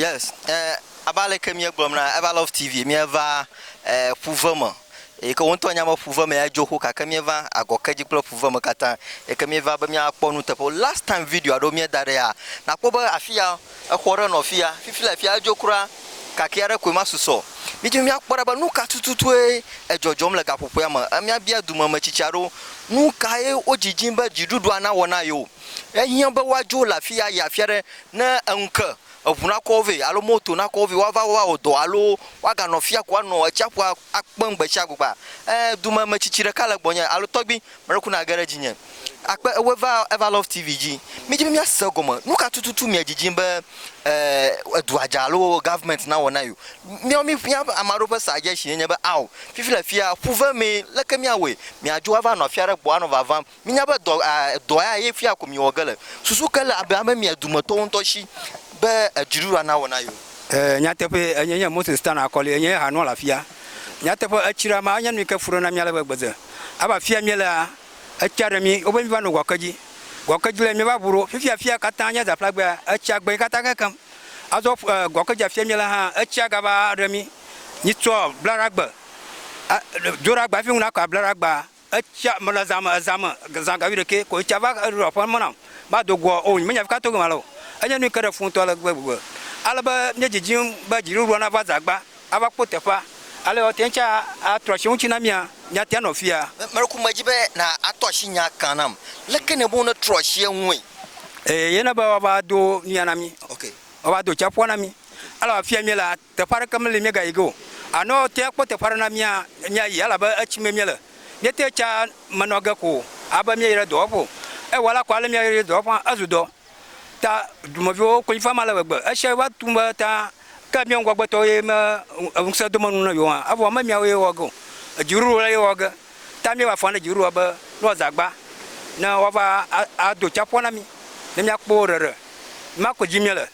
Yes, eh, abe aleke míegblɔm na Ever Love TV, míeva eh, ƒuve me eyi ke woŋutɔ nya be ƒuve me adzo xoxo gake míeva agɔke dzi kple ƒuve me katã eyi ke míeva be míakpɔ nuteƒewo. Last time video aɖewo míeda ɖe ya, nakpɔ be afi ya exɔ aɖe nɔ afi ya, fifi le afi ya edzo kura, kakɛ aɖe koe ma susɔ. Mídi be míakpɔ ɖa be nu ka tututue edzɔdzɔm le gaƒoƒoea me. Eh, Míabia dumemetsitsi aɖewo nu kae wodzidzim be dziɖuɖua nawɔ na yewo. Ehiã be woadzo le afia ayi afi aɖe ne eŋu ke, eŋu nakɔ wo vɛ alo moto nakɔ wo vɛ woava awɔ dɔ alo woaganɔ afi ya ko anɔ atsiaƒua akpem gbe sia gbea, ẽ, dumemetsitsi ɖeka le gbɔnye alo tɔgbui mele ku nage ɖe dzinye. Akpe ewoe va Everlove TV dzi. Mídi be míase egɔme. Nu ka tututu miedidim be, ẽ, edua dza alo gɔvimɛnti nawɔ na yewo? Míawo mí, mía ame aɖewo ƒe sa dzesi enye be, Ao, fifi le afia ƒuve mee, leke míawɔe? Miadzo ava nɔ afi aɖe gbɔ anɔ vavam. Minya be dɔ a dɔ ya ye fia ko miwɔ ge le. Susu ke le abe ame mia dometɔwo ŋutɔ si be edziɖuɖu a nawɔ na ye o. Ɛɛ, nyateƒee, enye nye Moses Tan Akoli, enye ye hã nɔla afia. Nyateƒe, etsi ɖe amea, enye nu yi ke fu ɖe na mí ale be gbede. Abe afia míelea, etsia ɖe mí, wobe míva no gɔkedzi. Gɔkedzi le míeva ŋu ɖo. Fifia afia katã nye zaƒlagbea, etsia gbe katã kekeŋ. Azɔ ƒu, ɛɛ, gɔkedzi afia míele hã, etsia gava ɖe mí. Mitsɔ blaɖagbe a, do ɖe agba hafi ŋu nakɔ ablaɖagbea. Etsia mele zã me, ezã me, zã ga wuiɖekɛ ko etsia va eɖo aƒe me nam. Mado goa o, nyemenya fika to gema le o. Enye nu yi ke ɖe fu ŋutɔ ale gbegbe. Ale be míedzidzim be dziɖuɖua nava zã gbã ava kpɔ teƒea. Ale woate ŋu tsã atrɔ asi wo ŋuti na mía, míate ŋu anɔ afia. Meɖoku medzi be na atrɔ asi nyaa kan nam. Leke nèbu be wonetrɔ asi eŋue? Eye na be woava do nuya na mí. Woava do tsiaƒua na mí. Elabe afia míele Teƒe aɖeke meli míegayi ge o. Alo te akpɔ teƒe aɖe na mía míayi elabe etsi mee míele. Míete tsa menɔ ge ko o abe míeyi ɖe dɔwɔƒe o. Ewa la ko ale míeyi ɖe dɔwɔƒe hã ezu dɔ ta dumeviwo wo konyi fam ale gbegbe. Esia va tu be ta ke míawo ŋgɔgbetɔwo ye me ŋusẽ do menu na yewo hã evɔ me míawoe wɔ ge o. Dziɖuɖu la ye wɔ ge ta míeva fɔn ɖe dziɖuɖua be ne woaza agba ne woava ado tsaƒua na mí ne míakpɔ wo ɖeɖe. Ema ko dzi míele.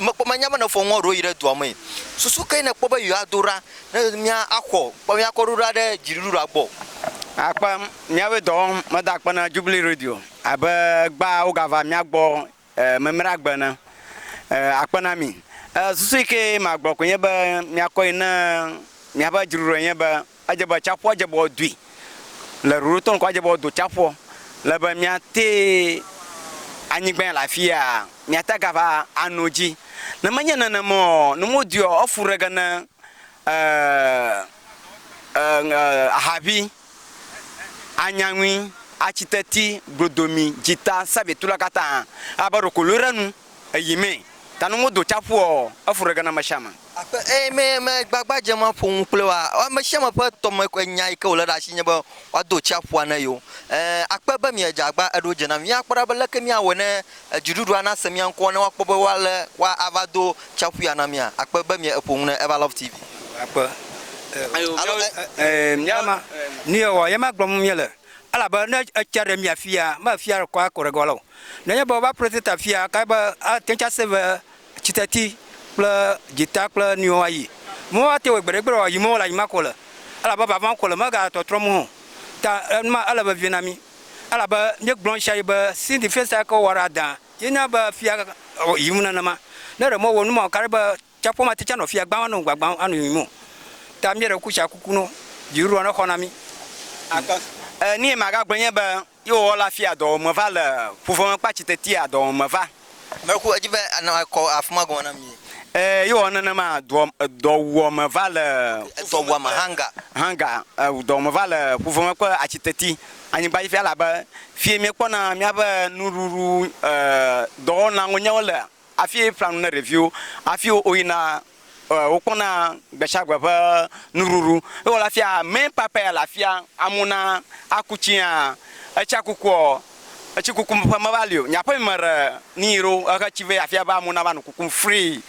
Mekpɔ menya be nefɔ ŋɔɖo yi ɖe dua mee. Susu kae nèkpɔ be yewoado ɖa ne míaxɔ kpamiakɔɖoɖoa ɖe dziɖuɖua gbɔ? Akpe, Míawoe dɔ wɔm. Meda akpe na Jubilee Radio abe egbea wogava mía gbɔ mimɖagbe ene. Akpe na mi. Susu yi ke magblɔ koe nye be miakɔe ne míaƒe dziɖuɖue nye be Edze be atsiaƒua dze be woadui le ɖoɖotɔ ŋkɔ adze be woado atsiaƒua le be miate anyigba le afi ya miate gava ano dzi. Ne menye nenema o ne modui o efu ɖe ge ne e e e ahavi, anyaŋui, atsiteti, glodomi, dzita, sabitula katã abe ɖeko lɔe ɖe nu. Eyi mɛ. Ta nu modo tsaƒu ɔ, efu ɖe ge na ameshiame. Aƒe eyi mɛ me gbagba dze ma ƒo nu kple woa ɔ, ameshiame ƒe tɔme ƒe nya yi ke wòle ɖe ashi nye be woado tsaƒua na yewo. Ɛ, akpe be miedze agba eɖo dze na mi. Míakpɔ ɖa be leke míawɔe ne dziɖuɖua nase mía ŋkɔ ne woakpɔ be woale woa ava do tsaƒu ya na mía. Akpe be mie eƒo nu ne Eva Love TV. Akpe. Alo ɛ. Ɛ, mía ma. Nuyɔ ɔ, ye ma gblɔm míele. Elabe ne etsia ɖe mia fia, me fia ɖe kɔ akɔ ɖe ge wa le o. Nenye be wova Preseta fia kae be ate ŋu ase be tsiteti kple dzita kple nuyiwo ayi. Mɔwo ate ŋu wɔe gbeɖegbeɖe o, yi mɔwo le anyigba ko le. Elabe vava ko le, megatɔtrɔ mɔ o. Ta enu ma ele vevie na mí. Elabe míegblɔ ɣesiaɣi be Cindy Festa ke wowɔ ɖe adã ye na be fia yim nenema. Ne ɖe mewɔ nu ma o, kaɖe be tsaƒua mate ŋu anɔ fia gbãm, anɔ gbagbãm, anɔ yiyim o. Ta míeɖe kuku tsa kuku no. Dziɖuɖua nexɔ na mí. Enu yi magagblɔe nye be Ye wòwɔ la fia dɔwɔwɔ me va le ƒuveme kple atsi tetea dɔwɔwɔ me va. Meku edzi be anɔ ekɔ afima gɔme na mi. E, ye wòwɔ nenema dɔ, dɔwuɔ me va le. Edɔwuɔ me hanga. Hanga, e, dɔwɔ me va le ƒuveme kple atsi teti anyigba dzi fia, elabe fie miekpɔna miaƒe nuɖuɖu, e, dɔwɔnaŋonyawo le Hafi ƒlea nu ne ɖeviwo hafi woyina wokpɔna gbesiagbe ƒe nuɖuɖu. Ewɔ le afia mɛ kpakpa ya le afia amewo na aku tsiã. Etsia kukuɔ etsi kuku ƒe meva li o. Nye aƒe me ɖe ni yi ɖo ehe tsi vɛ afia be amewo nava no kuku free.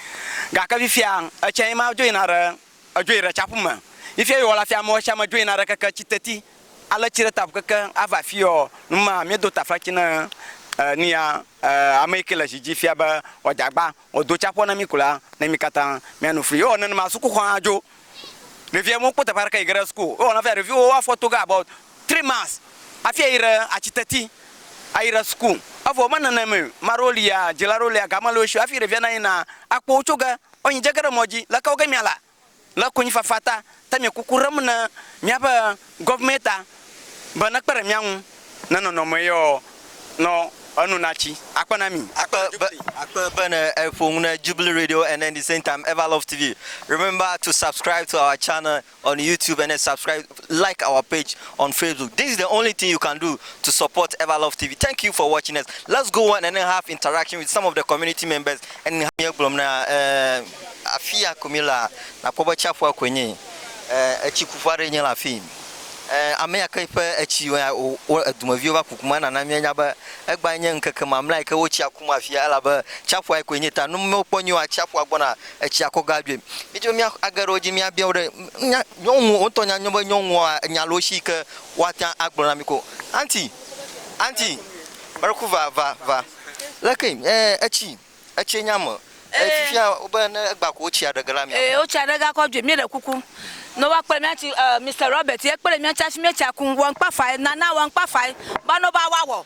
Gake fifia etsia ye ma dzo yina ɖe. Edzoe ɖe tsaƒu me yi fia yewɔ la fia amewo sia ame dzo yina ɖe keke tsi teti ale tsi ɖe taƒu keke ava afio nu ma mi do taflatsi ne e nia e ame yike le zi dzi fia be wɔ dze agba wɔ do tsaƒua ne mi ko la ne mi katã mia no fli yewɔ nenema suku xɔ hã dzo ɖevia mo kpɔ teƒe aɖeke yi ge ɖe suku yewɔ na fia ɖeviwo wo afɔ to ge about three months afia yi ɖe atsi teti ayi ɖe suku evɔ me nene me maɖewo lia dzila ɖewo lia game le wo sio afi ɖevia na yina akpɔ wo tso ge Ɔ nyi djege ɖe mɔ dji le kewo ge mia la le konyi fafa ta ta mi kuku ɖem ne mia ƒe gɔvemɛ ta be ne kpe ɖe mia ŋu ne nɔnɔ me yɔ nɔ enu na tsi akpe na mi. Akpe be akpe be ne eƒo ŋu ne Jubilee Radio and then the same time Everlove TV. Remember to subscribe to our channel. on YouTube and then subscribe, like our page on Facebook. This is the only thing you can do to support Everlove TV. Thank you for watching us. Let's go on and then have interaction with some of the community members. And have your blom na eh, afia kumila na pobo chafua kwenye eh, echi kufua renye la fi. Eh, ame ya ke ƒe etsi dumeviwo va kukuma nana míanya be egba nye ŋkeke mamlɛ yi ke wotsi akum afia elabe tsaƒua yi koe nye ta nu mewo kpɔ nyo atsiaƒua gbɔna etsia kɔ ge adzoe. Mi tse mia age ɖe wo dzi mia bia wo ɖe. Nya nyɔnu wo ŋutɔ nya nyɔ be nyɔnua enya le wo si ke woa te ŋu agblɔ na mi ko. Anti, anti, Mariko va va va. Leke e etsi etsi nya me. Etsi fia wo be ne egba ko wotsia ɖe ge la mia. E wotsia ɖe ge akɔ adzoe. Mi ɖe kuku ne woa kpe ɖe mia tsi e Mister Robert ye kpe ɖe mia tsi hafi mi tsia kum. Wɔ ŋkpa fae nana wɔ ŋkpa fae be ne woa wa wɔ.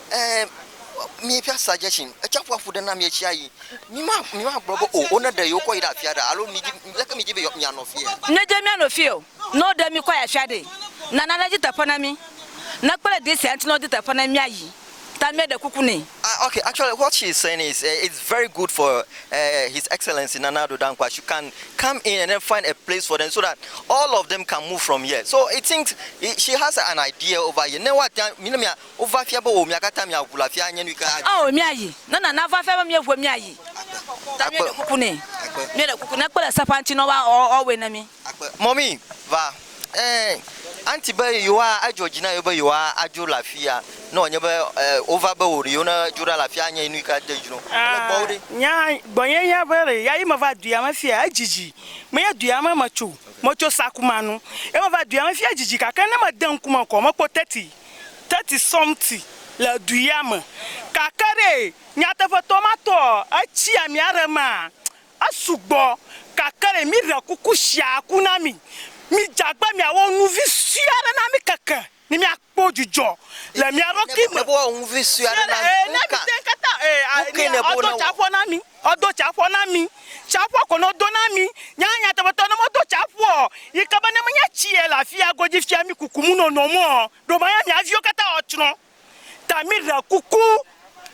ɛɛ míeƒe asa dze tsi. Tsiaƒua ƒo ɖe na mí ɣesia ɣi. Míma, mímagblɔ be o wone ɖe yewokɔ yi ɖe afia ɖea alo mìdi, leke mìdi be mìanɔ fiea. Nedze míanɔ fiae o, ne woɖe mí kɔ yi afia ɖee, nana nedi teƒe na mí. Ne ekpe ɖe desia ŋuti ne wodi teƒe na mí míayi. Ta míeɖe kuku nɛ. Ah, okay, actually what she is saying is, eh, it's very good for, eh, His Excellency Nana Addo Dankwa should can come in and then find a place for them so that all of them can move from here. So it seems she has an idea over here. Ne woate ŋu, ne mia. Wova fia be o mia kata mia ʋu le afia anye nui ke adi. Ao mia yi. Ne nana va fia be mie ʋue mia yi. Akpe. Ta mie ɖe kuku nɛ. Akpe. Mie ɖe kuku ne kpe le seƒa ŋuti nɔ wa ɔ ɔ wɔe ne mi. Akpe. Mɔmi, va. Ɛ anti be yewoa edzɔ dzi na yewo be yewoa adzo le afia ne wɔ nye be ɛ wova be o ɖe yewo ne dzo ɖa le afia anye nui ke ade dzi nɔ wo. Ele gbɔwo ɖe. Nya gbɔnye nya be ɖe ya yi me va dua me fia edzidzi. Me nye dua me me tso. Me tso sakuma nu. Ye me va dua me fia edzidzi gake ne me de ŋkume kɔ me kpɔ teti. thirty something le du ya me gake ɖe nyateƒetɔ ma tɔɔ etsi ami aɖe maa esu gbɔ gake ɖe mi ɖe kuku tsia ku na mi mi dze agbe mia wɔ nu vi sue aɖe na mi keke ne mia kpɔ dzudzɔ le mia ɖokui me ne mi te ŋu kata ee ɔtɔ tsa ƒɔ na mi. Edo tsaƒua na mí. Tsaƒua ko no do na mí. Nya nyateƒetɔ, ne medo tsaƒua ɔ, yi ke be ne menye tsie le afia godzi fia mí kuku mu nono me ɔ, ɖo manya mía viwo katã ɔ tsrɔ̃. Ta mí ɖe kuku,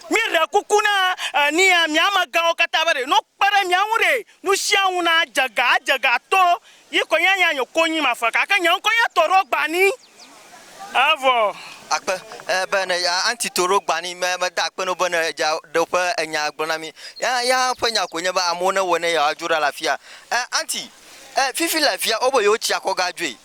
mí ɖe kuku na enia mía amegãwo katã be ɖe no kpe ɖe mía ŋu ɖe nusianu na dze ga adze ga to yi ko nya nya nye ko nyi mafe gake nye ŋkɔ nya tɔ ɖo gba ni. Evɔ. Akpe, e, be ne ya anti to ɖo gba ni me, me da akpe no be ne ja ɖe ƒe enya gblɔ na mi. Ya, ya ƒe nya ko nye be amewo ne wɔ ne ya adzo ɖa le afia. E, anti, e, fifi le afia, wo be yewo tsi akɔ ga dzoe.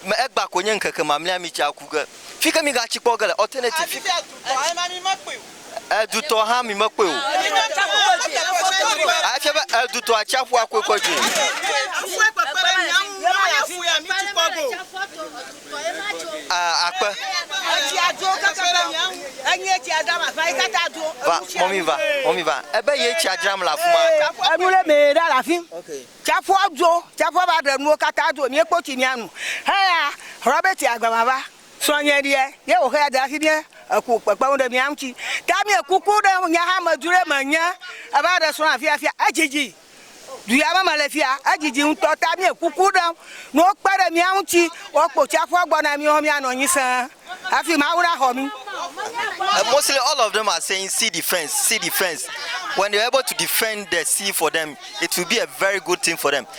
Me egba ko nye ŋkeke mamlea mi tsi aku ge. Fike mi ga tsi kpɔ ge le, alternative. Fi. Edutɔ hã mi mekpɔe o. Efia be edutɔ atsiaƒua koe kɔ dzoe. Ah, akpe. Va, mɔmi va, mɔmi va. Ebe ye tsia dzram le afi ma. Enu ɖe mee ɖa le afi. Tsiaƒua dzo, tsiaƒua va ɖe nuwo katã dzo. Míekpɔ tsi míanu. Heya, hlɔ̃ be tsia gba va va. Srɔ̃nye ɖe, ye wòxe ya da asi ɖe eku kpekpeŋu ɖe mía ŋuti. Ta mie kuku ɖe nye hamedru ɖe me nye eva ɖe srɔ̃ afia fia. Edzidzi. Du ya me mele fia, edzidzi ŋutɔ. Ta mie kuku ɖe ne wokpe ɖe mía ŋuti, woakpɔ tsiaƒua gbɔ na mí hɔ mía nɔ anyi sẽe hafi Mawu na xɔ mí. And mostly all of them are saying sea defense, sea defense. When they are able to defend the sea for them, it will be a very good thing for them.